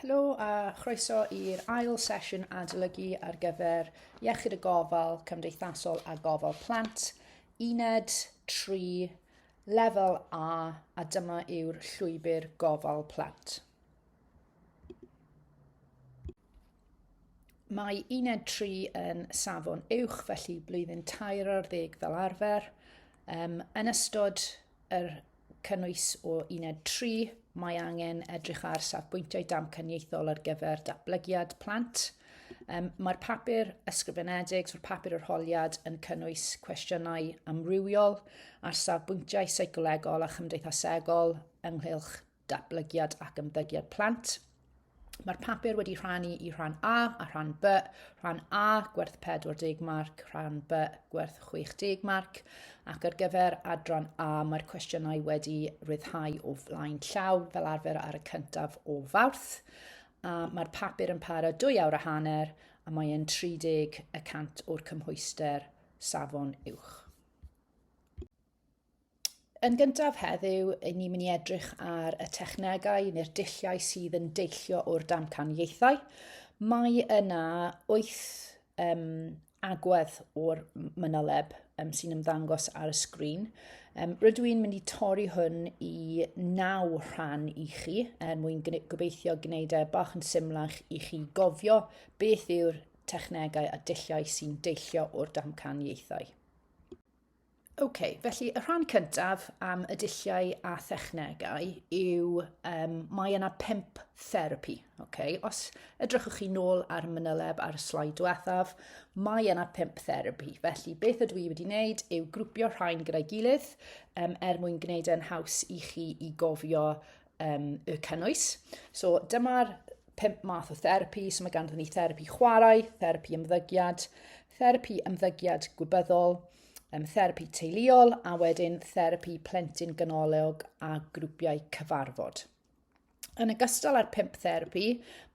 Helo a chroeso i'r ail sesiwn adolygu ar gyfer Iechyd y Gofal Cymdeithasol a Gofal Plant, uned 3, lefel A, a dyma yw'r llwybr gofal plant. Mae uned 3 yn safon uwch, felly blwyddyn tair ar ddeg fel arfer. Um, yn ystod yr cynnwys o uned 3, mae angen edrych ar safbwyntiau damcaniaethol ar gyfer datblygiad plant. Um, mae'r papur ysgrifenedig, so'r papur yr holiad, yn cynnwys cwestiynau amrywiol ar safbwyntiau seicolegol a chymdeithasegol ynghylch datblygiad ac ymddygiad plant. Mae'r papur wedi rhannu i rhan A a rhan B. Rhan A gwerth 40 marc, rhan B gwerth 60 marc. Ac ar gyfer adran A mae'r cwestiynau wedi rhyddhau o flaen llaw fel arfer ar y cyntaf o fawrth. A mae'r papur yn para dwy awr a hanner a mae e'n 30 y cant o'r cymhwyster safon uwch. Yn gyntaf heddiw, yn ni'n mynd i edrych ar y technegau neu'r dulliau sydd yn deillio o'r damcaniaethau. Mae yna wyth um, agwedd o'r mynoleb um, sy'n ymddangos ar y sgrin. Um, rydw i'n mynd i torri hwn i naw rhan i chi er mwyn gobeithio gwneud e bach yn symlach i chi gofio beth yw'r technegau a dulliau sy'n deillio o'r damcaniaethau. OK, felly y rhan cyntaf am y dulliau a thechnegau yw um, mae yna pimp therapi. Okay? Os edrychwch chi nôl ar y manyleb ar y slaid diwethaf, mae yna pimp therapi. Felly beth ydw i wedi wneud yw grwpio rhain gyda'i gilydd um, er mwyn gwneud e'n haws i chi i gofio um, y cynnwys. So dyma'r pimp math o therapi, so mae ganddyn ni therapi chwarae, therapi ymddygiad, therapi ymddygiad gwybyddol, um, therapi teuluol a wedyn therapi plentyn ganolog a grwpiau cyfarfod. Yn ogystal â'r pimp therapi,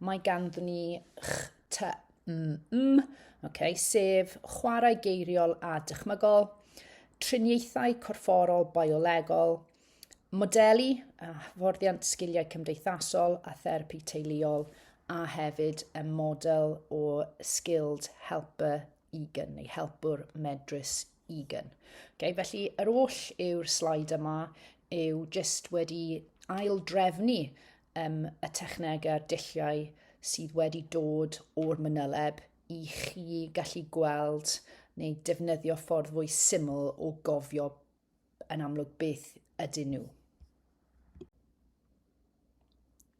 mae ganddyn ni HTMM, okay, sef chwarae geiriol a dychmygol, triniaethau corfforol biolegol, modelu a hyfforddiant sgiliau cymdeithasol a therapi teuluol a hefyd y model o skilled helper egan neu helpwr medrus egan. Okay, felly yr oll yw'r slaid yma yw jyst wedi ail drefnu um, y technegau a'r dulliau sydd wedi dod o'r mynyleb i chi gallu gweld neu defnyddio ffordd fwy syml o gofio yn amlwg beth ydyn nhw.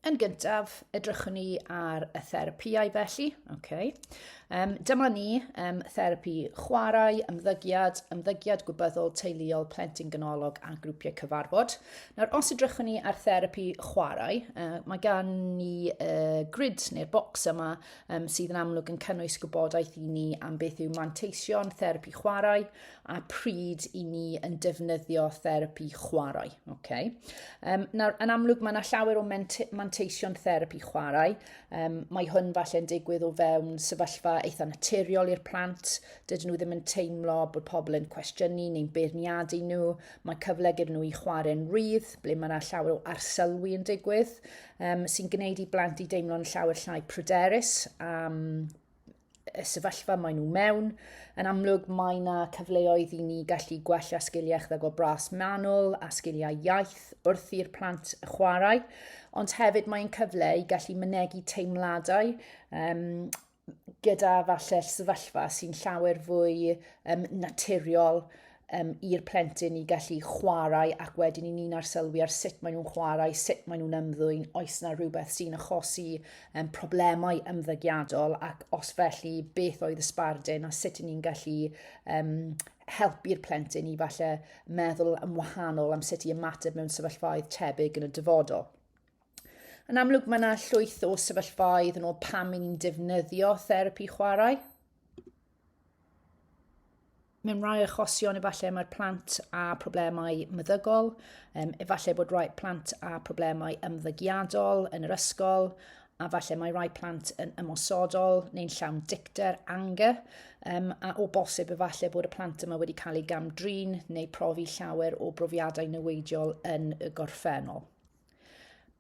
Yn gyntaf, edrychwn ni ar y therapïau felly. Okay. Um, dyma ni um, therapi chwarae, ymddygiad, ymddygiad gwybyddol, teuluol, plentyn ganolog a grwpiau cyfarfod. Nawr, os edrychwn ni ar therapi chwarae, uh, mae gan ni uh, grid neu'r bocs yma um, sydd yn amlwg yn cynnwys gwybodaeth i ni am beth yw manteision therapi chwarae, a pryd i ni yn defnyddio therapi chwarae. Okay? Um, nawr, yn amlwg mae yna llawer o manteision therapi chwarae. Um, mae hwn falle'n digwydd o fewn sefyllfa eitha naturiol i'r plant. Dydyn nhw ddim yn teimlo bod pobl yn cwestiynu neu'n beirniadu nhw. Mae cyfle gyda nhw i chwarae'n rydd, ble mae yna llawer o arselwi yn digwydd, um, sy'n gwneud i blant i deimlo'n llawer llai pryderus am um, y sefyllfa maen nhw mewn. Yn amlwg, mae yna cyfleoedd i ni gallu gwella sgiliau chdag o bras manwl a sgiliau iaith wrth i'r plant chwarae, ond hefyd mae'n cyfle i gallu mynegu teimladau um, gyda falle sefyllfa sy'n llawer fwy um, naturiol um, i'r plentyn i gallu chwarae ac wedyn i ni'n arsylwi ar sut maen nhw'n chwarae, sut maen nhw'n ymddwyn, oes yna rhywbeth sy'n achosi um, problemau ymddygiadol ac os felly beth oedd y sbardun a sut ni'n gallu um, helpu'r plentyn i falle meddwl yn wahanol am sut i ymateb mewn sefyllfaoedd tebyg yn y dyfodol. Yn amlwg mae yna llwyth o sefyllfaoedd yn ôl pam i ni'n defnyddio therapi chwarae, mewn rhai achosion efallai mae'r plant â problemau meddygol, um, efallai bod rhai plant â problemau ymddygiadol yn yr ysgol, a falle mae rhai plant yn ymosodol neu'n llawn dicter, anger, um, a o bosib efallai bod y plant yma wedi cael eu gamdrin neu profi llawer o brofiadau newidiol yn y gorffennol.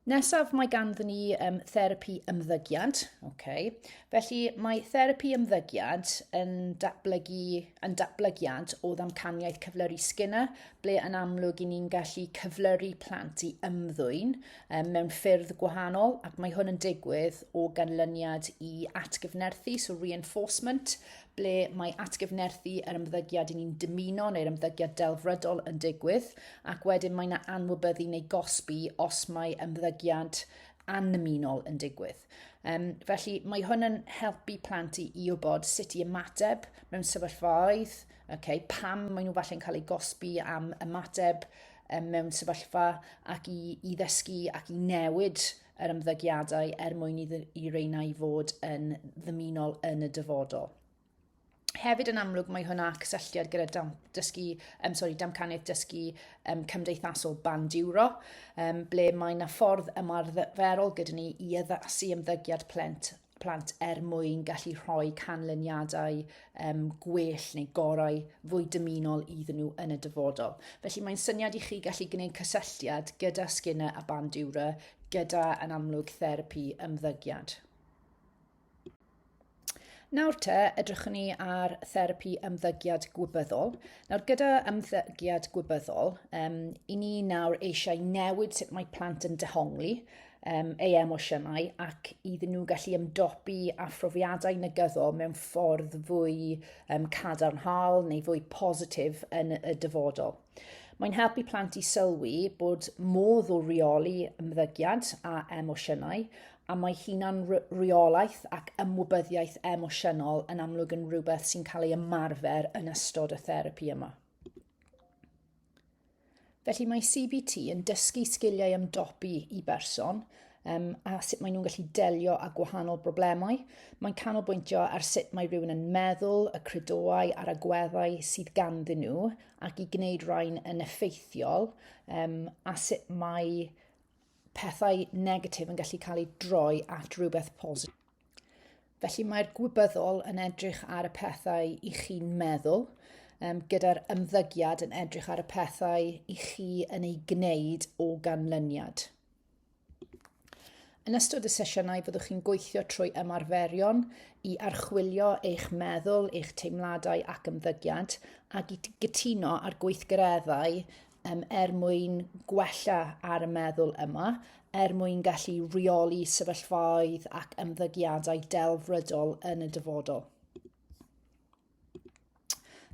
Nesaf mae ganddo ni um, therapi ymddygiad. Okay. Felly mae therapi ymddygiad yn datblygu yn datblygiad o ddamcaniaeth cyflyru Skinner, ble yn amlwg i ni'n gallu cyflyru plant i ymddwyn um, mewn ffyrdd gwahanol, ac mae hwn yn digwydd o ganlyniad i atgyfnerthu, so reinforcement, ble mae atgyfnerthu yr ymddygiad i ni'n dymuno neu'r ymddygiad delfrydol yn digwydd, ac wedyn mae yna anwybyddu neu gosbi os mae ymddygiad annymunol yn digwydd. Um, felly mae hwn yn helpu plant i, i wybod sut i ymateb mewn sefyllfaoedd, okay, pam maen nhw falle'n cael eu gosbi am ymateb um, mewn sefyllfa ac i, i ddysgu ac i newid yr ymddygiadau er mwyn i, i reina i fod yn ddymunol yn y dyfodol. Hefyd yn amlwg mae hwnna cysylltiad gyda dam, dysgu, um, sorry, damcaniaeth dysgu um, cymdeithasol band euro, um, ble mae yna ffordd ymarferol gyda ni i addasu ymddygiad plent plant er mwyn gallu rhoi canlyniadau um, gwell neu gorau fwy dymunol iddyn nhw yn y dyfodol. Felly mae'n syniad i chi gallu gwneud cysylltiad gyda Skinner a Bandura, gyda yn amlwg therapi ymddygiad. Nawr te, edrychwn ni ar therapi ymddygiad gwybyddol. Nawr, gyda ymddygiad gwybyddol, um, i ni nawr eisiau newid sut mae plant yn dehongli um, ei emosiynau ac iddyn nhw gallu ymdopi â phrofiadau negyddol mewn ffordd fwy um, cadarnhaol neu fwy positif yn y dyfodol. Mae'n helpu plant i sylwi bod modd o reoli ymddygiad a emosiynau a mae hunan reolaeth ac ymwybyddiaeth emosiynol yn amlwg yn rhywbeth sy'n cael ei ymarfer yn ystod y therapi yma. Felly mae CBT yn dysgu sgiliau ymdopi i berson um, a sut maen nhw'n gallu delio â gwahanol broblemau. Mae'n canolbwyntio ar sut mae rhywun yn meddwl, y credoau a'r agweddau sydd ganddyn nhw ac i gwneud rhain yn effeithiol um, a sut mae pethau negatif yn gallu cael eu droi at rhywbeth positif. Felly mae'r gwybyddol yn edrych ar y pethau i chi'n meddwl, um, gyda'r ymddygiad yn edrych ar y pethau i chi yn ei gwneud o ganlyniad. Yn ystod y sesiynau byddwch chi'n gweithio trwy ymarferion i archwilio eich meddwl, eich teimladau ac ymddygiad ac i gytuno ar gweithgareddau um, er mwyn gwella ar y meddwl yma, er mwyn gallu rheoli sefyllfaoedd ac ymddygiadau delfrydol yn y dyfodol.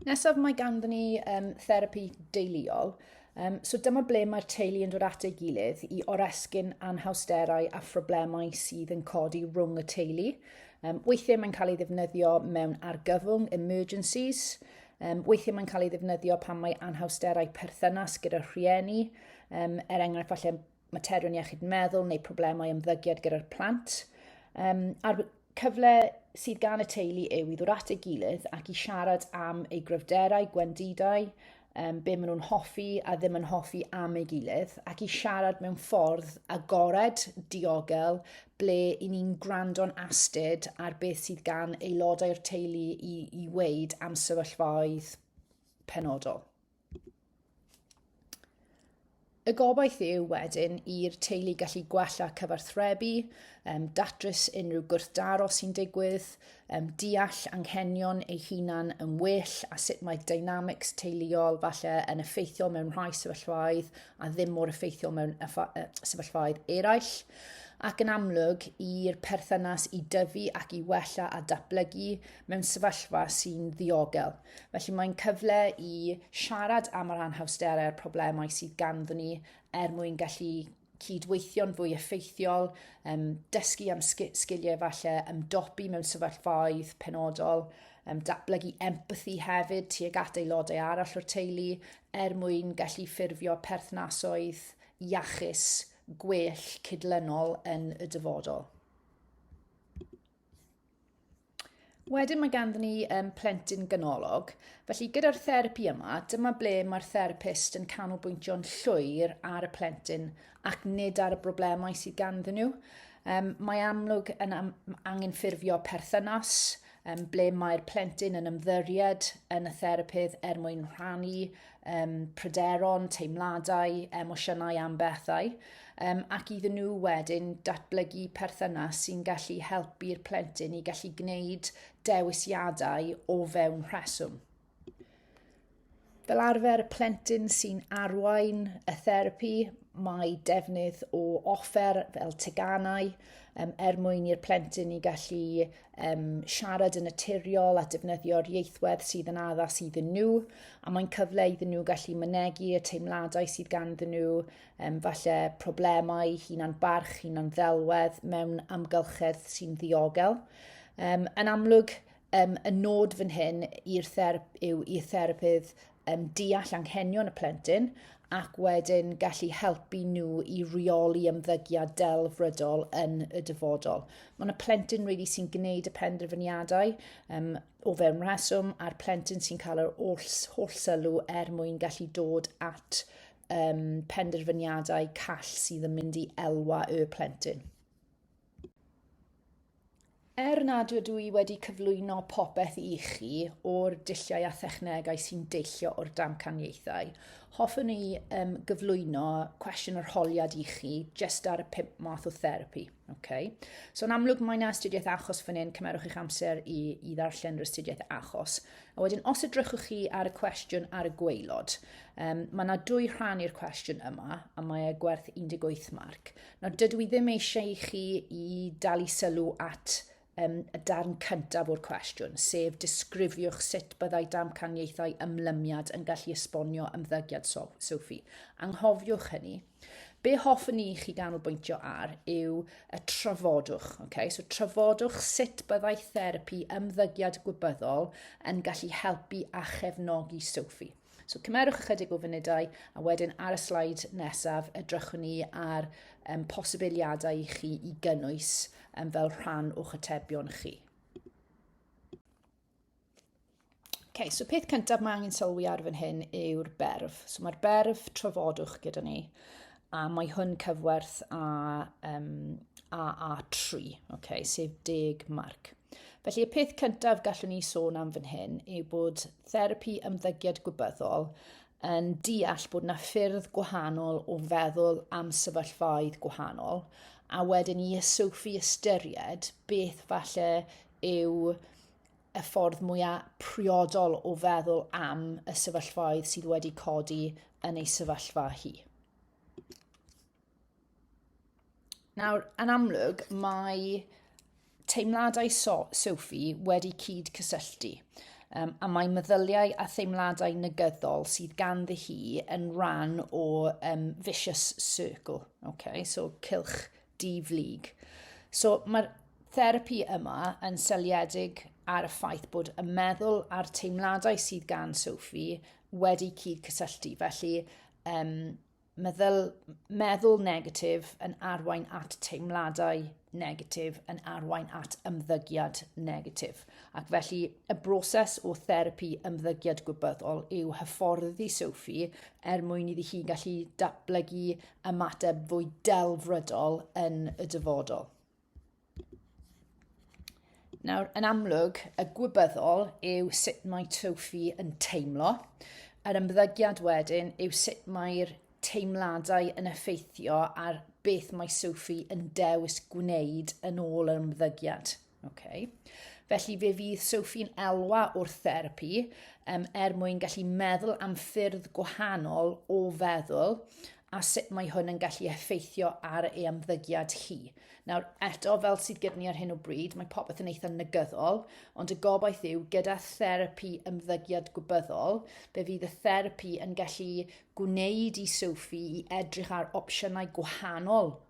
Nesaf mae ganddo ni um, therapi deuluol. Um, so dyma ble mae'r teulu yn dod at ei gilydd i oresgyn anhawsterau a phroblemau sydd yn codi rhwng y teulu. Um, weithiau mae'n cael ei ddefnyddio mewn argyfwng, emergencies, Um, weithiau mae'n cael ei ddefnyddio pan mae anhawsterau perthynas gyda'r rhieni, um, er enghraifft falle materion iechyd meddwl neu problemau ymddygiad gyda'r plant. Um, a'r cyfle sydd gan y teulu yw i ddod at ei gilydd ac i siarad am ei gryfderau, gwendidau, um, be maen nhw'n hoffi a ddim yn hoffi am ei gilydd, ac i siarad mewn ffordd agored, diogel, ble i ni'n gwrando'n astud ar beth sydd gan aelodau'r teulu i, i weid am sefyllfaoedd penodol. Y gobaith yw wedyn i'r teulu gallu gwella cyfarthrebu, um, datrys unrhyw gwrthdaro sy'n digwydd, um, deall anghenion ei hunan yn well a sut mae dynamics teuluol falle yn effeithiol mewn rhai sefyllfaoedd a ddim mor effeithiol mewn sefyllfaoedd eraill. Ac yn amlwg, i'r perthynas i dyfu ac i wella a datblygu mewn sefyllfa sy'n ddiogel. Felly mae'n cyfle i siarad am yr anhawsterau a'r problemau sydd ganddyn ni er mwyn gallu cydweithio'n fwy effeithiol, um, dysgu am sgiliau falle ymdopi mewn sefyllfaoedd penodol, um, datblygu empathi hefyd tuag at aelodau arall o'r teulu er mwyn gallu ffurfio perthnasoedd iachus, gwell, cydlynol yn y dyfodol. Wedyn mae ganddyn ni um, plentyn ganolog. Felly gyda'r therapi yma, dyma ble mae'r therapist yn canolbwyntio'n llwyr ar y plentyn ac nid ar y broblemau sydd ganddyn nhw. Um, mae amlwg yn am, angen ffurfio perthynas um, ble mae'r plentyn yn ymddyried yn y therapydd er mwyn rhannu um, pryderon, teimladau, emosiynau am bethau, um, ac iddyn nhw wedyn datblygu perthynas sy'n gallu helpu'r plentyn i gallu gwneud dewisiadau o fewn rheswm. Fel arfer, y plentyn sy'n arwain y therapi, mae defnydd o offer fel teganau um, er mwyn i'r plentyn i gallu um, siarad yn naturiol a defnyddio'r ieithwedd sydd yn addas iddyn nhw, a mae'n cyfle iddyn nhw gallu mynegu y teimladau sydd ganddyn nhw, um, falle problemau hunan barch, hunan ddelwedd mewn amgylchedd sy'n ddiogel. Um, yn amlwg, um, y nod fan hyn i'r therp yw i'r therapydd um, deall anghenion y plentyn ac wedyn gallu helpu nhw i reoli ymddygiad delfrydol yn y dyfodol. Mae yna plentyn rili really sy'n gwneud y penderfyniadau um, o fewn rheswm a'r plentyn sy'n cael yr holl, holl sylw er mwyn gallu dod at um, penderfyniadau call sydd yn mynd i elwa y plentyn. Er nad ydw i wedi cyflwyno popeth i chi o'r dulliau a thechnegau sy'n deillio o'r damcaniaethau, hoffwn i um, gyflwyno cwestiwn yr holiad i chi jyst ar y pum math o therapi. Okay. So yn amlwg mae yna astudiaeth achos fan hyn, cymerwch eich amser i, i ddarllen yr astudiaeth achos. A wedyn os ydrychwch chi ar y cwestiwn ar y gweilod, um, mae yna dwy rhan i'r cwestiwn yma a mae e gwerth 18 marc. Nawr, dydw i ddim eisiau i chi i dalu sylw at um, y darn cyntaf o'r cwestiwn, sef disgrifiwch sut byddai damcaniaethau ymlymiad yn gallu esbonio ymddygiad Sophie. Anghofiwch hynny. Be hoffwn i chi ganolbwyntio ar yw y trafodwch. Okay? So trafodwch sut byddai therapi ymddygiad gwybyddol yn gallu helpu a chefnogi Sophie. So cymerwch ychydig o funudau a wedyn ar y slaid nesaf edrychwn ni ar um, posibiliadau i chi i gynnwys um, fel rhan o'ch atebion chi. Okay, so peth cyntaf mae angen sylwi ar fan hyn yw'r berf. So mae'r berf trafodwch gyda ni. A mae hwn cyfwerth a, um, AA3, okay, sef deg marc. Felly y peth cyntaf gallwn ni sôn am fan hyn yw bod therapi ymddygiad gwybyddol yn deall bod yna ffyrdd gwahanol o feddwl am sefyllfaoedd gwahanol a wedyn i ysyfu ystyried beth falle yw y ffordd mwyaf priodol o feddwl am y sefyllfaoedd sydd wedi codi yn ei sefyllfa hi. Nawr, yn amlwg, mae teimladau so Sophie wedi cyd cysylltu um, a mae meddyliau a theimladau negyddol sydd ganddi hi yn rhan o um, vicious circle, okay? so cilch di-flyg. So mae'r therapi yma yn seliedig ar y ffaith bod y meddwl a'r teimladau sydd gan Sophie wedi cyd cysylltu. Felly, um, meddwl, meddwl negatif yn arwain at teimladau negatif, yn arwain at ymddygiad negatif. Ac felly, y broses o therapi ymddygiad gwybyddol yw hyfforddi Sophie er mwyn iddi hi gallu datblygu ymateb fwy delfrydol yn y dyfodol. Nawr, yn amlwg, y gwybyddol yw sut mae Tofi yn teimlo. Yr ymddygiad wedyn yw sut mae'r teimladau yn effeithio ar beth mae Sophie yn dewis gwneud yn ôl yr ymddygiad. Okay. Felly fe fydd Sophie'n elwa wrth therapi um, er mwyn gallu meddwl am ffyrdd gwahanol o feddwl a sut mae hwn yn gallu effeithio ar ei ymddygiad hi. Nawr, eto, fel sydd gyda ni ar hyn o bryd, mae popeth yn eitha negyddol, ond y gobaith yw, gyda therapi ymddygiad gwybyddol, fe fydd y therapi yn gallu gwneud i Sophie i edrych ar opsiynau gwahanol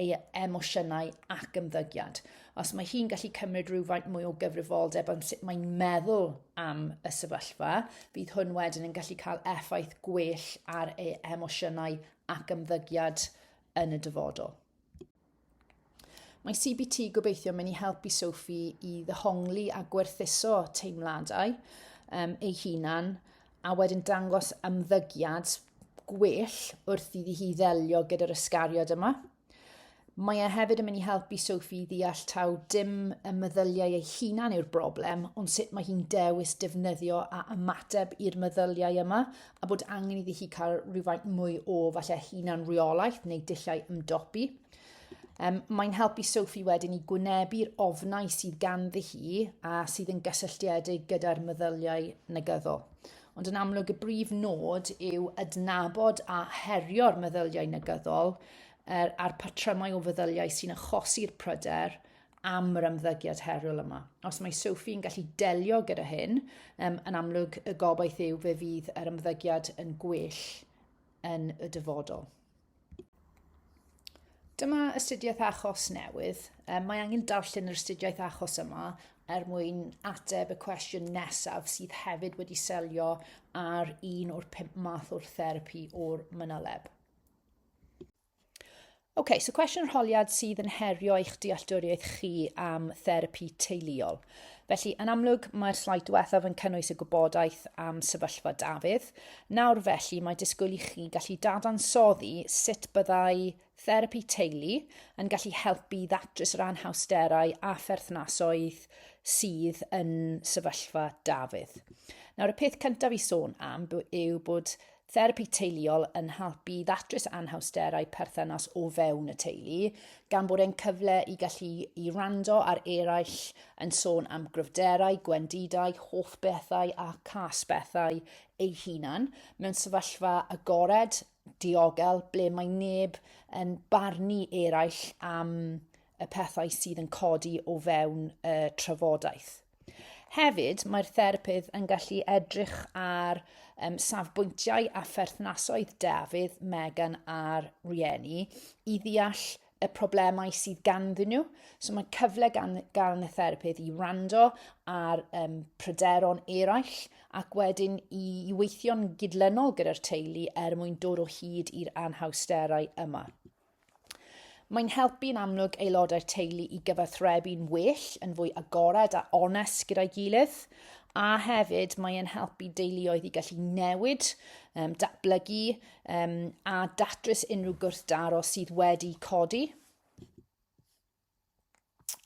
ei emosiynau ac ymddygiad. Os mae hi'n gallu cymryd rhywfaint mwy o gyfrifoldeb am sut mae'n meddwl am y sefyllfa, bydd hwn wedyn yn gallu cael effaith gwell ar ei emosiynau ac ymddygiad yn y dyfodol. Mae CBT gobeithio mynd i helpu Sophie i ddehongli a gwerthuso teimladau um, ei hunan a wedyn dangos ymddygiad gwell wrth iddi hi ddelio gyda'r ysgariad yma. Mae e hefyd yn mynd i helpu Sophie i ddeall taw dim y meddyliau ei hunan yw'r broblem, ond sut mae hi'n dewis defnyddio a ymateb i'r meddyliau yma, a bod angen iddi hi cael rhywfaint mwy o falle hunan rheolaeth neu dulliau ymdopi. Um, mae'n helpu Sophie wedyn i gwynebu'r ofnau sydd ganddi hi a sydd yn gysylltiedig gyda'r meddyliau negyddol. Ond yn amlwg y brif nod yw adnabod a herio'r meddyliau negyddol er, a'r patrymau o feddyliau sy'n achosi'r pryder am yr ymddygiad heriol yma. Os mae Sophie yn gallu delio gyda hyn, um, yn amlwg y gobaith yw fe fydd yr ymddygiad yn gwell yn y dyfodol. Dyma astudiaeth achos newydd. Um, mae angen darllen yr astudiaeth achos yma er mwyn ateb y cwestiwn nesaf sydd hefyd wedi selio ar un o'r pum math o'r therapi o'r mynoleb. OK, so cwestiwn yr holiad sydd yn herio eich dealltwriaeth chi am therapi teuluol. Felly, yn amlwg, mae'r slaid diwethaf yn cynnwys y gwybodaeth am sefyllfa Dafydd. Nawr felly, mae disgwyl i chi gallu dadansoddi sut byddai therapi teulu yn gallu helpu i ddatrys yr anhawsterau a pherthnasoedd sydd yn sefyllfa Dafydd. Nawr, y peth cyntaf i sôn am yw bod Therapi teuluol yn helpu i ddatrys anhawsterau perthynas o fewn y teulu, gan bod e'n cyfle i gallu i wrando ar eraill yn sôn am gryfderau, gwendidau, hoff bethau a cas bethau eu hunan, mewn sefyllfa agored, diogel, ble mae neb yn barnu eraill am y pethau sydd yn codi o fewn y trafodaeth. Hefyd, mae'r therapydd yn gallu edrych ar um, safbwyntiau a pherthnasoedd Dafydd, Megan a'r rhieni i ddeall y problemau sydd ganddyn nhw. So mae'n cyfle gan, gan y therapydd i rando ar um, pryderon eraill ac wedyn i, i weithio'n gydlynol gyda'r teulu er mwyn dod o hyd i'r anhawsterau yma. Mae'n helpu yn amlwg aelodau'r teulu i gyfathrebu'n well, yn fwy agored a onest gyda'i gilydd, a hefyd mae'n helpu deuluoedd i gallu newid, um, datblygu um, a datrys unrhyw gwrthdaro sydd wedi codi.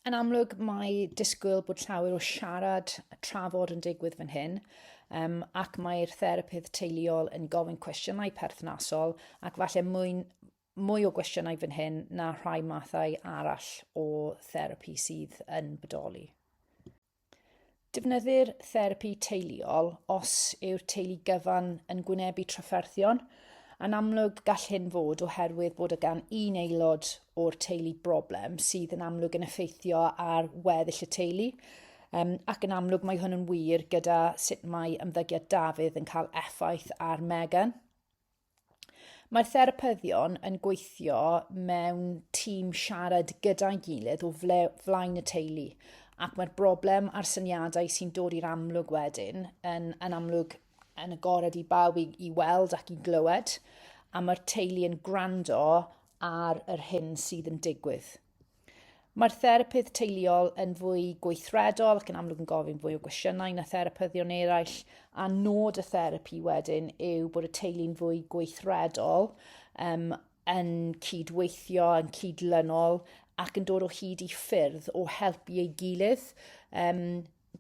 Yn amlwg, mae disgwyl bod llawer o siarad a trafod yn digwydd fan hyn, um, ac mae'r therapydd teuluol yn gofyn cwestiynau perthnasol ac falle mwy, mwy o gwestiynau fan hyn na rhai mathau arall o therapi sydd yn bodoli. Defnyddir therapi teuluol os yw'r teulu gyfan yn gwynebu trafferthion. Yn amlwg gall hyn fod oherwydd bod y gan un aelod o'r teulu broblem sydd yn amlwg yn effeithio ar weddill y teulu, um, ac yn amlwg mae hwn yn wir gyda sut mae ymddygiad Dafydd yn cael effaith ar Megan. Mae therapyddion yn gweithio mewn tîm siarad gyda'i gilydd o flaen y teulu ac mae'r broblem a'r syniadau sy'n dod i'r amlwg wedyn yn, yn amlwg yn agored i bawb i, i weld ac i glywed a mae'r teulu yn gwrando ar yr hyn sydd yn digwydd. Mae'r therapydd teuluol yn fwy gweithredol ac yn amlwg yn gofyn fwy o gwestiynau na therapyddion eraill, a nod y therapi wedyn yw bod y teulu'n fwy gweithredol, um, yn cydweithio, yn cydlynol, ac yn dod o hyd i ffyrdd o helpu ei gilydd. Um,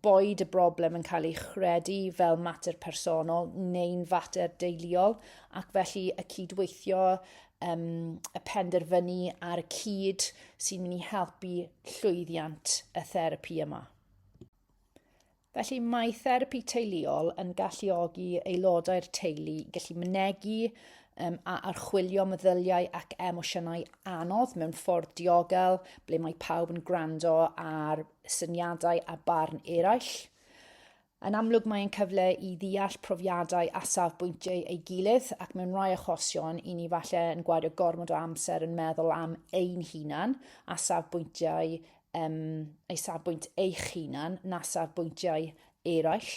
boed y broblem yn cael ei chredu fel mater personol neu'n fater deiliol, ac felly y cydweithio, um, y penderfynu ar y cyd sy'n mynd i helpu llwyddiant y therapi yma. Felly mae therapi teuluol yn galluogi aelodau'r teulu i gallu mynegu um, a archwilio meddyliau ac emosiynau anodd mewn ffordd diogel, ble mae pawb yn gwrando ar syniadau a barn eraill. Yn amlwg mae'n cyfle i ddeall profiadau a safbwyntiau ei gilydd ac mewn rhai achosion i ni falle yn gwario gormod o amser yn meddwl am ein hunan a safbwyntiau um, ei safbwynt eich hunan na safbwyntiau eraill.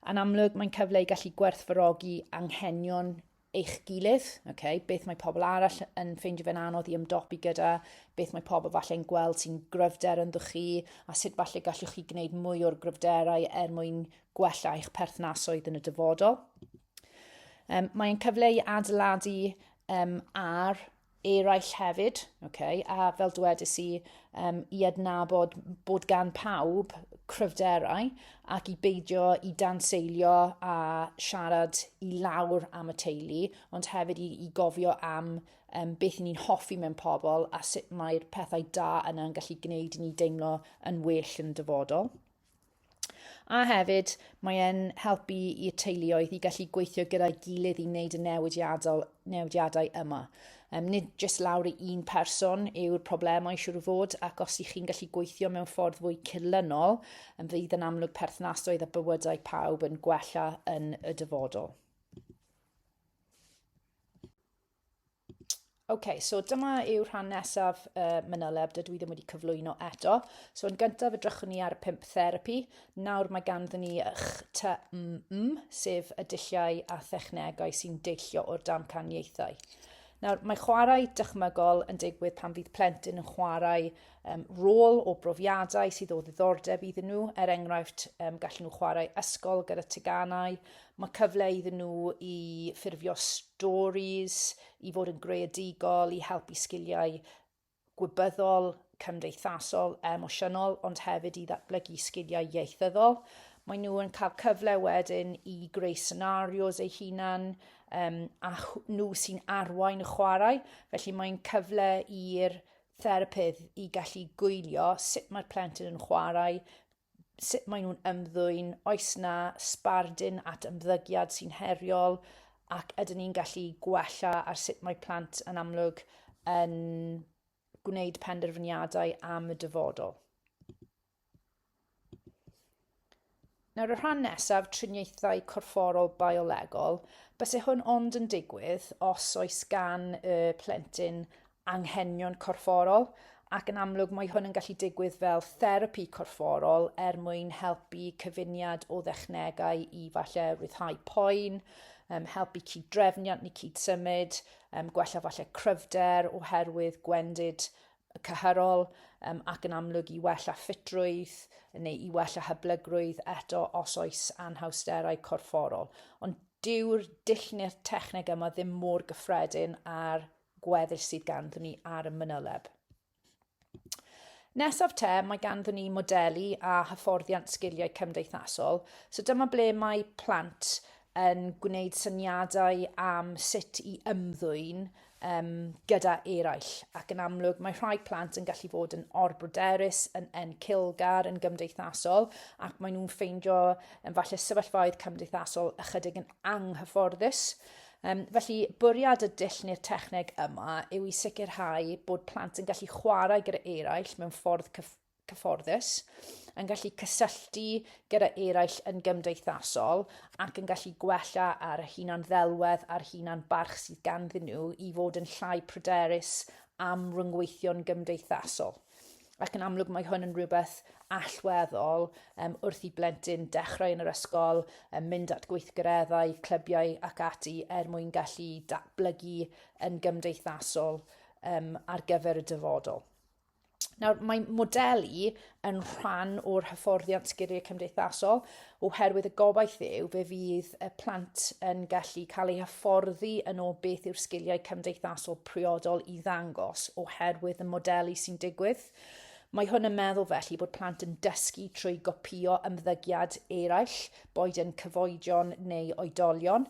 Yn amlwg, mae'n cyfle i gallu gwerthfarogi anghenion eich gilydd, okay? beth mae pobl arall yn ffeindio fe'n anodd i ymdopi gyda, beth mae pobl falle'n gweld sy'n gryfder ynddo chi, a sut falle gallwch chi gwneud mwy o'r gryfderau er mwyn gwella eich perthnasoedd yn y dyfodol. Um, mae'n cyfle i adeiladu um, ar eraill hefyd, okay, a fel dwedais i, um, i adnabod bod gan pawb cryfderau ac i beidio i danseilio a siarad i lawr am y teulu, ond hefyd i, i gofio am um, beth ni'n hoffi mewn pobl a sut mae'r pethau da yna yn gallu gwneud i ni deimlo yn well yn dyfodol. A hefyd, mae e'n helpu i'r teuluoedd i gallu gweithio gyda'i gilydd i wneud y newidiadol, newidiadau yma. Um, nid jyst lawr i un person yw'r problemau siwr o fod, ac os ych chi'n gallu gweithio mewn ffordd fwy cyrlynol, yn fydd yn amlwg perthnasoedd a bywydau pawb yn gwella yn y dyfodol. OK, so dyma yw rhan nesaf uh, mynyleb, dydw i ddim wedi cyflwyno eto. So yn gyntaf edrychwn ni ar y pimp therapi. Nawr mae ganddyn ni HTMM, sef y dulliau a thechnegau sy'n deillio o'r damcaniaethau. Nawr, mae chwarae dychmygol yn digwydd pan fydd plentyn yn chwarae um, rôl o brofiadau sydd o ddiddordeb iddyn nhw. Er enghraifft, um, gallen nhw chwarae ysgol gyda teganau. Mae cyfle iddyn nhw i ffurfio stories, i fod yn greadigol, i helpu sgiliau gwybyddol, cymdeithasol, emosiynol, ond hefyd i ddatblygu sgiliau ieithyddol. Mae nhw yn cael cyfle wedyn i greu scenarios eu hunan um, a nhw sy'n arwain y chwarae, felly mae'n cyfle i'r therapydd i gallu gwylio sut mae'r plentyn yn chwarae, sut maen nhw'n ymddwyn, oes na sbardun at ymddygiad sy'n heriol, ac ydyn ni'n gallu gwella ar sut mae plant yn amlwg yn gwneud penderfyniadau am y dyfodol. Nawr y rhan nesaf, triniaethau corfforol biolegol, bys e hwn ond yn digwydd os oes gan y plentyn anghenion corfforol ac yn amlwg mae hwn yn gallu digwydd fel therapi corfforol er mwyn helpu cyfuniad o ddechnegau i falle rhyddhau poen, um, helpu cyd-drefniant neu cyd-symud, um, gwella falle cryfder oherwydd gwendid cynghorol um, ac yn amlwg i wella ffitrwydd neu i wella hyblygrwydd eto os oes anhawsterau corfforol. Ond dyw'r dull neu'r techneg yma ddim mor gyffredin ar gweddill sydd ganddyn ni ar y mynyleb. Nesaf te, mae ganddyn ni modelu a hyfforddiant sgiliau cymdeithasol. So dyma ble mae plant yn gwneud syniadau am sut i ymddwyn um, gyda eraill, ac yn amlwg mae rhai plant yn gallu fod yn orbryderus, yn encilgar, yn gymdeithasol, ac maen nhw'n ffeindio yn falle sefyllfaoedd cymdeithasol ychydig yn anghyfforddus. Um, felly, bwriad y dull neu'r techneg yma yw i sicrhau bod plant yn gallu chwarae gyda eraill mewn ffordd cyf cyfforddus, yn gallu cysylltu gyda eraill yn gymdeithasol ac yn gallu gwella ar y hunan ddelwedd a'r hunan barch sydd ganddyn nhw i fod yn llai pryderus am ryngweithio'n gymdeithasol. Ac yn amlwg mae hwn yn rhywbeth allweddol um, wrth i blentyn dechrau yn yr ysgol, um, mynd at gweithgareddau, clybiau ac ati er mwyn gallu datblygu yn gymdeithasol um, ar gyfer y dyfodol. Nawr, mae modelu yn rhan o'r hyfforddiant sgiliau cymdeithasol oherwydd y gobaith yw fe fydd y plant yn gallu cael eu hyfforddi yn ôl beth yw'r sgiliau cymdeithasol priodol i ddangos oherwydd y modelu sy'n digwydd. Mae hwn yn meddwl felly bod plant yn dysgu trwy gopio ymddygiad eraill, boed yn cyfoedion neu oedolion,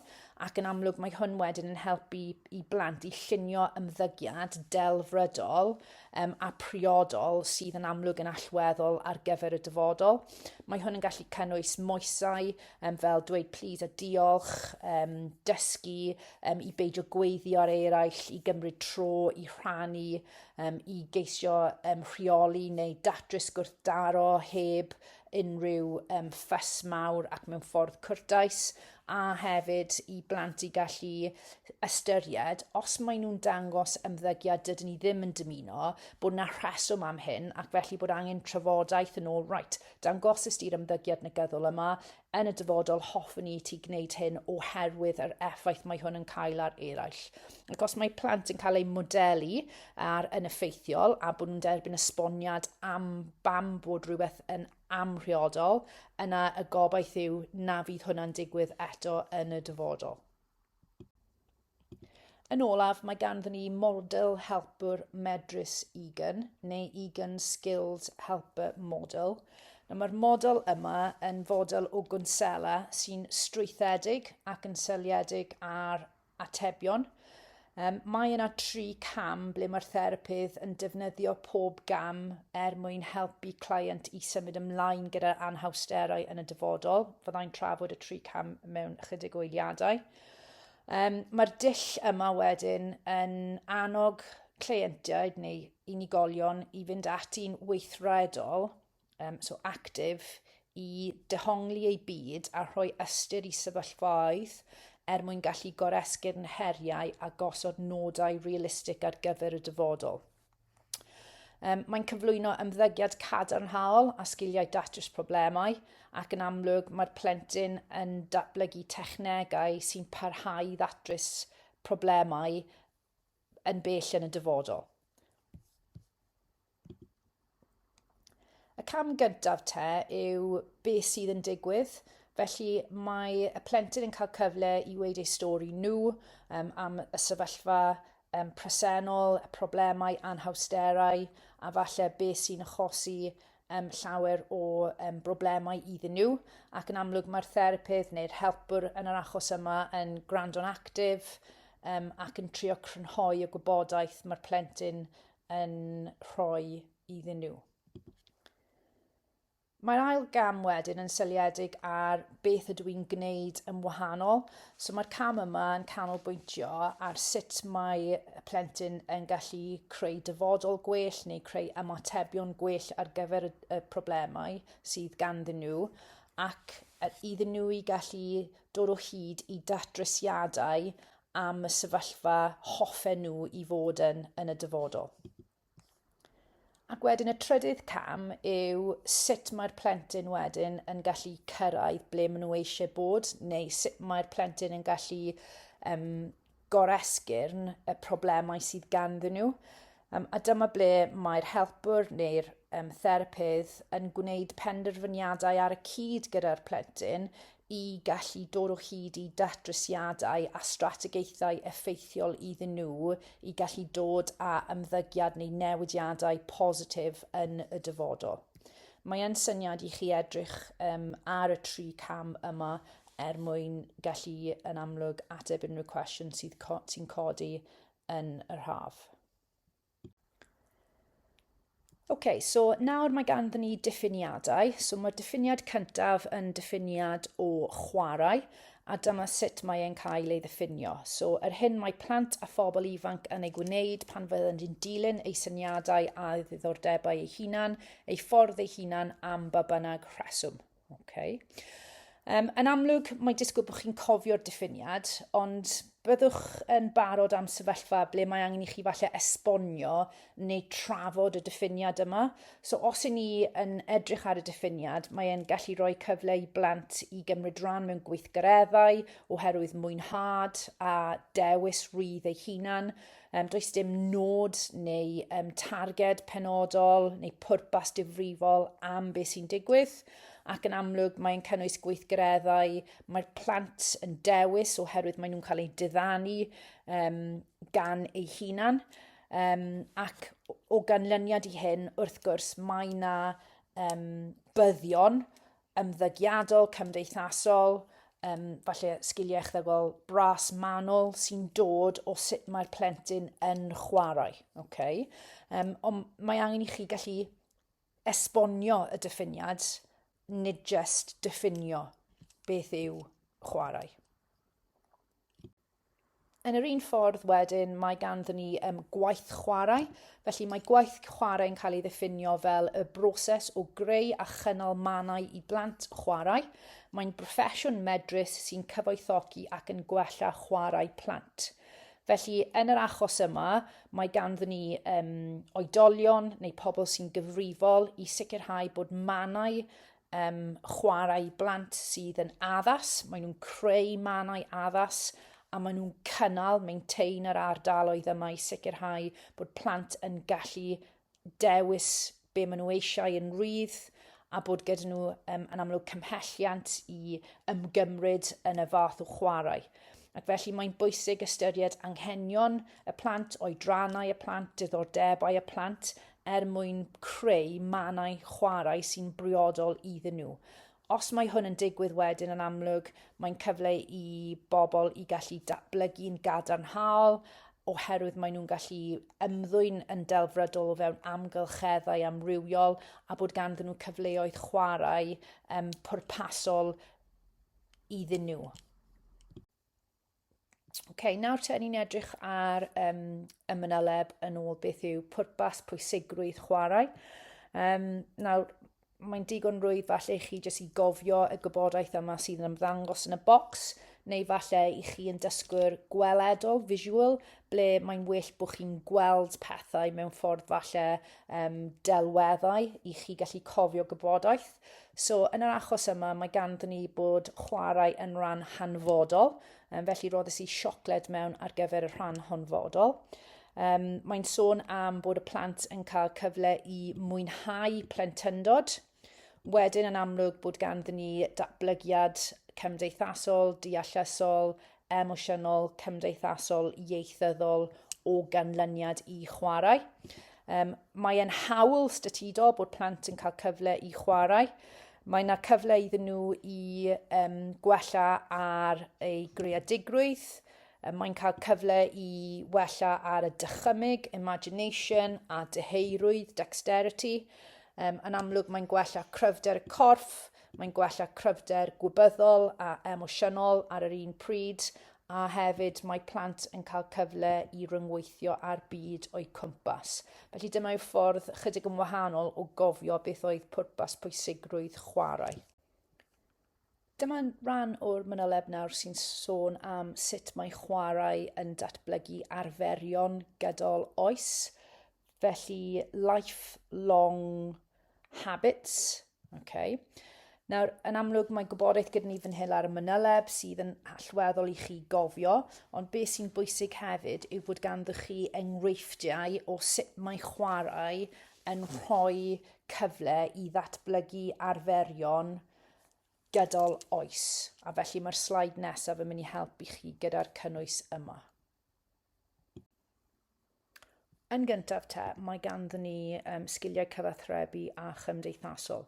ac yn amlwg mae hwn wedyn yn helpu i blant i llunio ymddygiad delfrydol um, a priodol sydd yn amlwg yn allweddol ar gyfer y dyfodol. Mae hwn yn gallu cynnwys moesau um, fel dweud plîs a diolch, um, dysgu um, i beidio gweithio ar eraill, i gymryd tro, i rhannu, um, i geisio um, rheoli neu datrys gwrthdaro heb unrhyw um, ffys mawr ac mewn ffordd cwrtais. a hefyd i blant i gallu ystyried os maen nhw'n dangos ymddygiad dydyn ni ddim yn dymuno bod na rheswm am hyn ac felly bod angen trafodaeth yn ôl, right, dangosus di'r ymddygiad negyddol yma, yn y dyfodol hoffwn ni ti gwneud hyn oherwydd yr effaith mae hwn yn cael ar eraill. Ac os mae plant yn cael eu modelu ar yn effeithiol a bod nhw'n derbyn esboniad am bam bod rhywbeth yn amhriodol, yna y gobaith yw na fydd hwnna'n digwydd eto yn y dyfodol. Yn olaf, mae ganddyn ni model helpwr medrus Egan, neu Egan Skilled Helper Model. Nawr mae'r model yma yn fodel o gwnsela sy'n strwythedig ac yn seliedig ar Atebion, um, Mae yna tri cam ble mae'r therapydd yn defnyddio pob gam er mwyn helpu client i symud ymlaen gyda anhawsterau yn y dyfodol. Fyddai'n trafod y tri cam mewn ychydig o eiliadau. Um, Mae'r dull yma wedyn yn annog cleientiaid neu unigolion i fynd at un weithredol um, so actif, i dehongli ei byd a rhoi ystyr i sefyllfaoedd er mwyn gallu goresgyn heriau a gosod nodau realistig ar gyfer y dyfodol. Um, mae'n cyflwyno ymddygiad cadarnhaol a sgiliau datrys problemau ac yn amlwg mae'r plentyn yn datblygu technegau sy'n parhau i ddatrys problemau yn bell yn y dyfodol. Y cam gyntaf te yw beth sydd yn digwydd. Felly mae y plentyn yn cael cyfle i weid ei stori nhw um, am y sefyllfa um, presennol, y problemau, anhawsterau, a falle beth sy'n achosi um, llawer o um, broblemau iddyn nhw ac yn amlwg mae'r therapydd neu'r helpwr yn yr achos yma yn gwrando'n actif um, ac yn trio crynhoi y gwybodaeth mae'r plentyn yn rhoi iddyn nhw. Mae'r ail gam wedyn yn syliedig ar beth ydw i'n gwneud yn wahanol. So mae'r cam yma yn canolbwyntio ar sut mae y plentyn yn gallu creu dyfodol gwell neu creu ymatebion gwell ar gyfer y, y problemau sydd ganddyn nhw ac iddyn nhw i gallu dod o hyd i datrysiadau am y sefyllfa hoffen nhw i fod yn yn y dyfodol. Ac wedyn y trydydd cam yw sut mae'r plentyn wedyn yn gallu cyrraedd ble maen nhw eisiau bod, neu sut mae'r plentyn yn gallu um, goresgyrn y problemau sydd ganddyn nhw. Um, a dyma ble mae'r helpwr neu'r um, therapydd yn gwneud penderfyniadau ar y cyd gyda'r plentyn, i gallu dod o hyd i datrysiadau a strategaethau effeithiol iddyn nhw i gallu dod â ymddygiad neu newidiadau positif yn y dyfodol. Mae e'n syniad i chi edrych um, ar y tri cam yma er mwyn gallu yn amlwg ateb unrhyw cwestiwn sydd co sy'n codi yn yr haf. OK, so nawr mae ganddyn ni diffiniadau. So mae'r diffiniad cyntaf yn diffiniad o chwarae, a dyma sut mae e'n cael ei ddiffinio. So yr hyn mae plant a phobl ifanc yn ei gwneud pan fydden nhw'n dilyn ei syniadau a ddiddordebau ei hunan, ei ffordd ei hunan am ba bynnag rheswm. Okay. Um, yn amlwg, mae disgwyl bod chi'n cofio'r diffiniad, ond byddwch yn barod am sefyllfa ble mae angen i chi falle esbonio neu trafod y diffiniad yma. So os y'n ni yn edrych ar y diffiniad, mae e'n gallu rhoi cyfle i blant i gymryd rhan mewn gweithgareddau oherwydd mwynhad a dewis rydd ei hunan, Um, does dim nod neu um, targed penodol neu pwrpas difrifol am beth sy'n digwydd ac yn amlwg mae'n cynnwys gweithgareddau mae'r plant yn dewis oherwydd maen nhw'n cael eu diddanu um, gan eu hunan. Um, ac o ganlyniad i hyn, wrth gwrs, mae yna um, byddion ymddygiadol, cymdeithasol, um, falle sgiliau echddygol bras manwl sy'n dod o sut mae'r plentyn yn chwarae. Okay? Um, ond mae angen i chi gallu esbonio y diffiniad, nid just diffinio beth yw chwarae. Yn yr un ffordd wedyn, mae ganddyn ni um, gwaith chwarae. Felly mae gwaith chwarae yn cael ei ddiffinio fel y broses o greu a chynnal mannau i blant chwarae. Mae'n broffesiwn medrus sy'n cyfoethogi ac yn gwella chwarae plant. Felly, yn yr achos yma, mae ganddyn ni um, oedolion neu pobl sy'n gyfrifol i sicrhau bod mannau um, chwarae i blant sydd yn addas, maen nhw'n creu mannau addas a maen nhw'n cynnal, maintain yr ardaloedd yma i sicrhau bod plant yn gallu dewis be maen nhw eisiau yn rydd a bod gyda nhw um, yn amlwg cymhelliant i ymgymryd yn y fath o chwarae. Ac felly mae'n bwysig ystyried anghenion y plant, oedrannau y plant, diddordebau y plant, er mwyn creu mannau chwarae sy'n briodol iddyn nhw. Os mae hwn yn digwydd wedyn yn amlwg, mae'n cyfle i bobl i gallu datblygu'n gadarnhaol oherwydd maen nhw'n gallu ymddwyn yn delfrydol o fewn amgylcheddau amrywiol a bod ganddyn nhw cyfleoedd chwarae um, pwrpasol iddyn nhw. okay, nawr te, ni'n edrych ar um, y mynyleb yn ôl beth yw pwrpas, pwysigrwydd, chwarae. Um, nawr, mae'n digon rwydd falle i chi jyst i gofio y gwybodaeth yma sydd yn ymddangos yn y bocs, neu falle i chi yn dysgwyr gweledol, visual, ble mae'n well bod chi'n gweld pethau mewn ffordd falle um, delweddau i chi gallu cofio gwybodaeth. So, yn yr achos yma, mae ganddyn ni bod chwarae yn rhan hanfodol, um, felly roddys i siocled mewn ar gyfer y rhan honfodol. Um, mae'n sôn am bod y plant yn cael cyfle i mwynhau plentyndod. Wedyn yn amlwg bod ganddyn ni datblygiad cymdeithasol, deallusol, emosiynol, cymdeithasol, ieithyddol o ganlyniad i chwarae. Um, Mae'n hawl statudol bod plant yn cael cyfle i chwarae. Mae yna cyfle iddyn nhw i um, gwella ar ei greadigrwydd, mae'n cael cyfle i wella ar y dychymyg, imagination a dyheirwydd, dexterity. Um, yn amlwg mae'n gwella cryfder y corff, Mae'n gwella cryfder gwybyddol a emosiynol ar yr un pryd, a hefyd mae plant yn cael cyfle i ryngweithio â'r byd o'u cwmpas. Felly dyma yw ffordd chydig yn wahanol o gofio beth oedd pwrpas pwysigrwydd chwarae. Dyma ran o'r manyleb nawr sy'n sôn am sut mae chwarae yn datblygu arferion gydol oes, felly lifelong habits, Okay. Nawr, yn amlwg mae gwybodaeth gyda ni fan hyn ar y mynyleb sydd yn allweddol i chi gofio, ond beth sy'n bwysig hefyd yw bod ganddo chi enghreifftiau o sut mae chwarae yn rhoi cyfle i ddatblygu arferion gydol oes. A felly mae'r slaid nesaf yn mynd i helpu chi gyda'r cynnwys yma. Yn gyntaf te, mae ganddyn ni um, sgiliau cyfathrebu a chymdeithasol.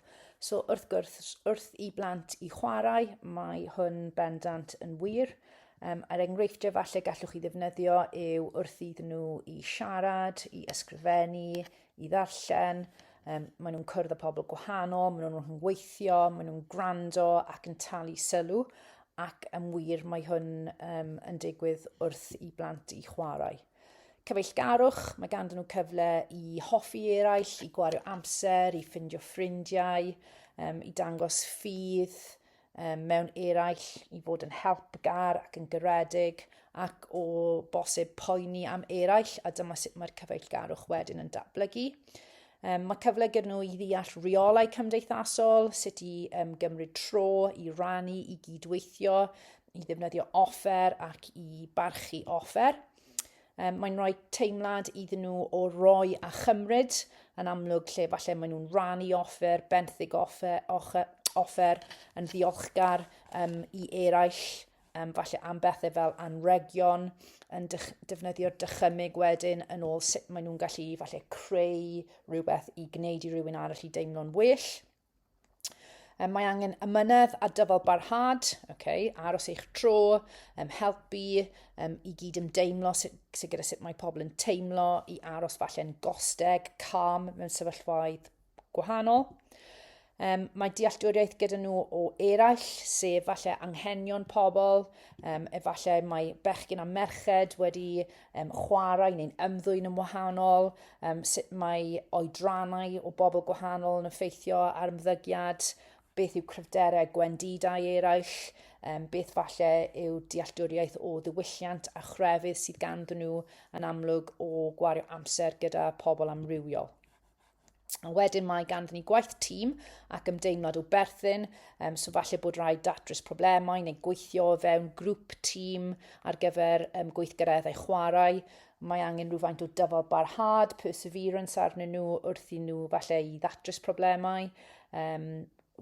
So wrth gwrs, wrth i blant i chwarae, mae hwn bendant yn wir. Um, a'r enghreifftiau falle gallwch chi ddefnyddio yw wrth iddyn nhw i siarad, i ysgrifennu, i ddarllen, um, maen nhw'n cwrdd â pobl gwahanol, maen nhw'n rhyngweithio, maen nhw'n gwrando ac yn talu sylw, ac yn wir mae hwn um, yn digwydd wrth i blant i chwarae. Cyfeillgarwch, mae ganddyn nhw cyfle i hoffi eraill, i gwario amser, i ffindio ffrindiau, um, i dangos ffydd, um, mewn eraill i fod yn helpgar ac yn garedig ac o bosib poeni am eraill a dyma sut mae'r cyfeillgarwch wedyn yn datblygu. Um, mae cyfle gyda nhw i ddeall rheolau cymdeithasol, sut i um, gymryd tro, i rannu, i gydweithio, i ddefnyddio offer ac i barchu offer. Um, mae'n rhoi teimlad iddyn nhw o roi a chymryd yn amlwg lle falle maen nhw'n rannu offer, benthyg offer, offer, offer yn ddiolchgar um, i eraill, um, falle am bethau fel anregion, yn dych, defnyddio'r dychymyg wedyn yn ôl sut maen nhw'n gallu falle creu rhywbeth i gwneud i rywun arall i deimlo'n well. Um, mae angen ymynedd a dyfal barhad, okay, aros eich tro, um, helpu um, i gyd ymdeimlo sydd sy gyda sut mae pobl yn teimlo, i aros falle'n gosteg, calm mewn sefyllfaoedd gwahanol. Um, mae dealltwriaeth gyda nhw o eraill, sef falle anghenion pobl, um, efallai mae bechgyn a merched wedi um, chwarae neu'n ymddwyn yn wahanol, um, sut mae oedrannau o bobl gwahanol yn effeithio ar ymddygiad, beth yw cryfderau gwendidau eraill, um, beth falle yw dealltwriaeth o ddiwylliant a chrefydd sydd ganddyn nhw yn amlwg o gwario amser gyda pobl amrywiol. A wedyn mae ganddyn ni gwaith tîm ac ymdeimlad o berthyn, um, so falle bod rhaid datrys problemau neu gweithio o fewn grŵp tîm ar gyfer um, gweithgareddau chwarae. Mae angen rhywfaint o dyfal barhad, perseverance arnyn nhw wrth i nhw falle i ddatrys problemau. Um,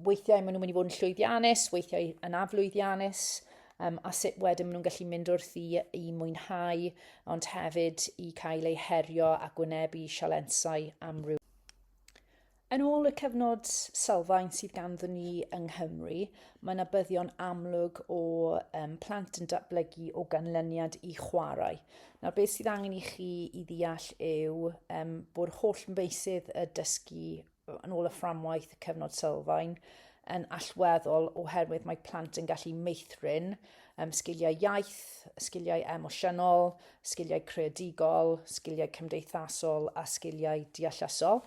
weithiau maen nhw'n mynd i fod yn llwyddiannus, weithiau yn aflwyddiannus, um, a sut wedyn maen nhw'n gallu mynd wrth i, i mwynhau, ond hefyd i cael eu herio a gwynebu sialensau amryw. Yn ôl y cyfnod sylfaen sydd ganddyn ni yng Nghymru, mae yna byddion amlwg o um, plant yn datblygu o ganlyniad i chwarae. Nawr, beth sydd angen i chi i ddeall yw um, bod holl meysydd y dysgu yn ôl y fframwaith y cyfnod sylfaen yn allweddol oherwydd mae plant yn gallu meithrin um, sgiliau iaith, sgiliau emosiynol, sgiliau creadigol, sgiliau cymdeithasol a sgiliau deallusol.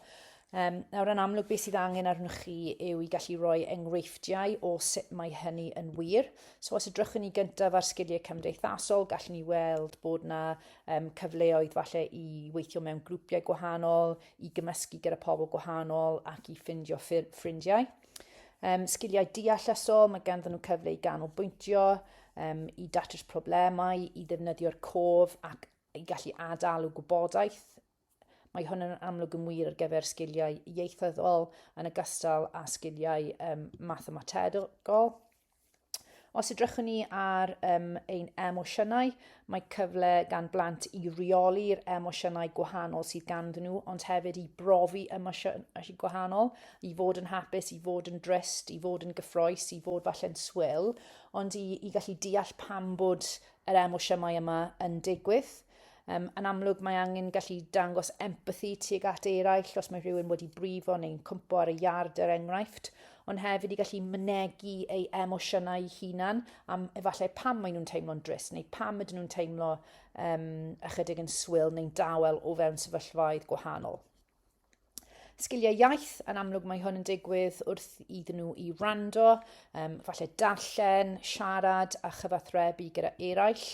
Um, nawr yn amlwg beth sydd angen arnoch chi yw i gallu rhoi enghreifftiau o sut mae hynny yn wir. So os ydrychwn ni gyntaf ar sgiliau cymdeithasol, gallwn ni weld bod yna um, cyfleoedd falle i weithio mewn grwpiau gwahanol, i gymysgu gyda pobl gwahanol ac i ffindio ffrindiau. Um, sgiliau deallusol, mae ganddyn nhw cyfle i ganolbwyntio, um, i datrys problemau, i ddefnyddio'r cof ac i gallu adalu gwybodaeth. Mae hwn yn amlwg yn wir ar gyfer sgiliau ieithyddol yn ogystal â sgiliau um, mathemategol. Os edrychwn ni ar um, ein emosiynau, mae cyfle gan blant i reoli'r emosiynau gwahanol sydd ganddyn nhw, ond hefyd i brofi emosiynau gwahanol, i fod yn hapus, i fod yn drist, i fod yn gyffroes, i fod falle'n swyl, ond i, i gallu deall pam bod yr emosiynau yma yn digwydd. Um, yn amlwg mae angen gallu dangos empathi tuag at eraill os mae rhywun wedi brifo neu'n cwmpo ar y iard er enghraifft, ond hefyd i gallu mynegu ei emosiynau hunan am efallai pam maen nhw'n teimlo'n dris neu pam ydyn nhw'n teimlo um, ychydig yn swyl neu'n dawel o fewn sefyllfaoedd gwahanol. Sgiliau iaith, yn amlwg mae hwn yn digwydd wrth iddyn nhw i rando, um, falle darllen, siarad a chyfathrebu gyda eraill,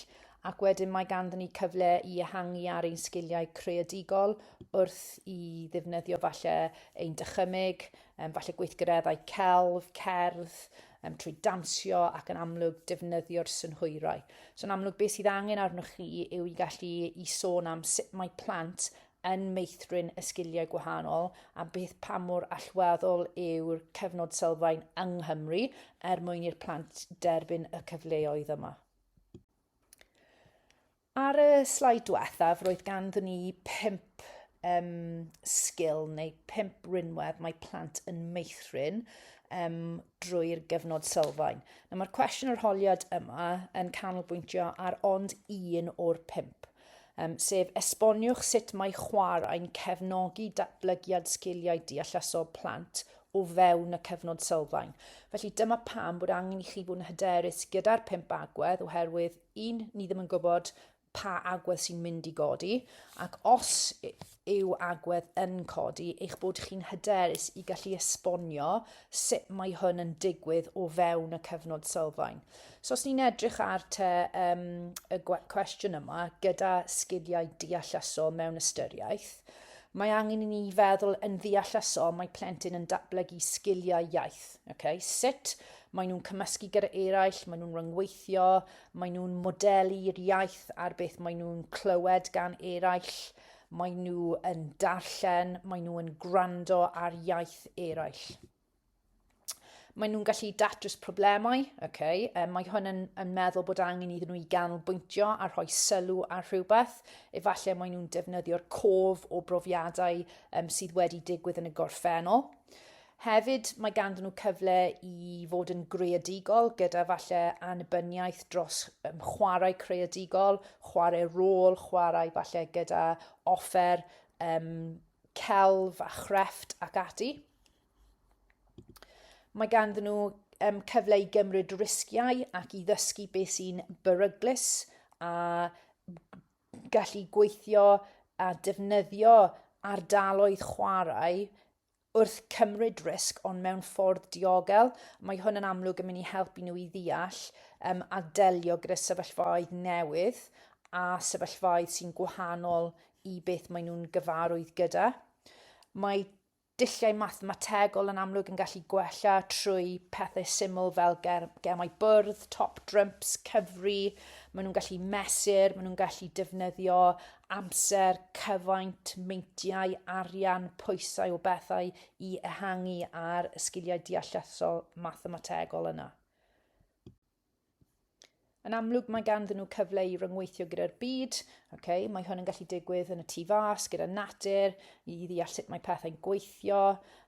ac wedyn mae ganddyn ni cyfle i ehangu ar ein sgiliau creadigol wrth i ddefnyddio falle ein dychymyg, um, falle gweithgareddau celf, cerdd, um, trwy dansio ac yn amlwg defnyddio'r synhwyrau. So yn amlwg beth sydd angen arnoch chi yw i gallu i sôn am sut mae plant yn meithrin y sgiliau gwahanol a beth pa mor allweddol yw'r cyfnod sylfaen yng Nghymru er mwyn i'r plant derbyn y cyfleoedd yma. Ar y slaid diwethaf, roedd ganddyn ni pimp um, sgil neu pimp rinwedd mae plant yn meithrin um, drwy'r gyfnod sylfaen. Nawr, mae'r cwestiwn yr holiad yma yn canolbwyntio ar ond un o'r pimp. sef esboniwch sut mae chwarae'n cefnogi datblygiad sgiliau deallusol plant o fewn y cyfnod sylfaen. Felly dyma pam bod angen i chi fod yn hyderus gyda'r pump agwedd oherwydd un, ni ddim yn gwybod pa agwedd sy'n mynd i godi ac os yw agwedd yn codi eich bod chi'n hyderus i gallu esbonio sut mae hwn yn digwydd o fewn y cyfnod sylfaen. So os ni'n edrych ar te um, y cwestiwn yma gyda sgiliau deallusol mewn ystyriaeth, mae angen i ni feddwl yn ddeallusol mae plentyn yn datblygu sgiliau iaith. Okay? Sut maen nhw'n cymysgu gyda eraill, maen nhw'n rhyngweithio, maen nhw'n modelu i'r iaith ar beth maen nhw'n clywed gan eraill, Maen nhw yn darllen, maen nhw yn gwrando ar iaith eraill. Maen nhw'n gallu datrys problemau, okay. um, mae hwn yn, yn meddwl bod angen iddyn nhw i ganolbwyntio a rhoi sylw ar rhywbeth. Efallai maen nhw'n defnyddio'r cof o brofiadau um, sydd wedi digwydd yn y gorffennol. Hefyd, mae ganddyn nhw cyfle i fod yn greadigol gyda falle annibyniaeth dros um, chwarae creadigol, chwarae rôl, chwarae falle gyda offer um, celf a chrefft ac ati. Mae ganddyn nhw um, cyfle i gymryd risgiau ac i ddysgu beth sy'n beryglus a gallu gweithio a defnyddio ardaloedd chwarae wrth cymryd risg ond mewn ffordd diogel. Mae hwn yn amlwg yn mynd i helpu nhw i ddeall um, a delio gyda sefyllfaoedd newydd a sefyllfaoedd sy'n gwahanol i beth maen nhw'n gyfarwydd gyda. Mae dulliau mathemategol yn amlwg yn gallu gwella trwy pethau syml fel ger, gemau bwrdd, top drumps, cyfri, maen nhw'n gallu mesur, maen nhw'n gallu defnyddio amser, cyfaint, meintiau, arian, pwysau o bethau i ehangu ar y sgiliau deallusol mathemategol yna. Yn amlwg mae ganddyn nhw cyfle i ryngweithio gyda'r byd, okay? mae hwn yn gallu digwydd yn y tu fas, gyda natur, i ddeall sut mae pethau'n gweithio,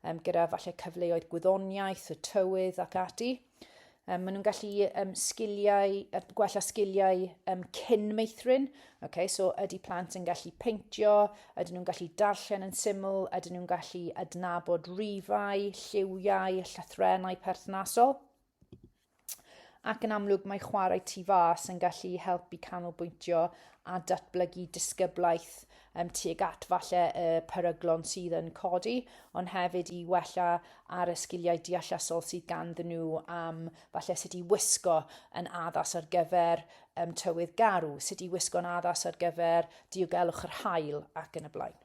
um, gyda falle cyfleoedd gwyddoniaeth, y tywydd ac ati. Um, maen nhw'n gallu um, sgiliau, er, gwella sgiliau um, cyn meithrin. Okay, so ydy plant yn gallu peintio, ydyn nhw'n gallu darllen yn syml, ydyn nhw'n gallu adnabod rifau, lliwiau, llythrenau perthnasol. Ac yn amlwg mae chwarae tu fas yn gallu helpu canolbwyntio a datblygu disgyblaeth um, tuag at falle y peryglon sydd yn codi, ond hefyd i wella ar y sgiliau deallasol sydd ganddyn nhw am falle sut i wisgo yn addas ar gyfer um, tywydd garw, sut i wisgo'n addas ar gyfer diogelwch yr hael ac yn y blaen.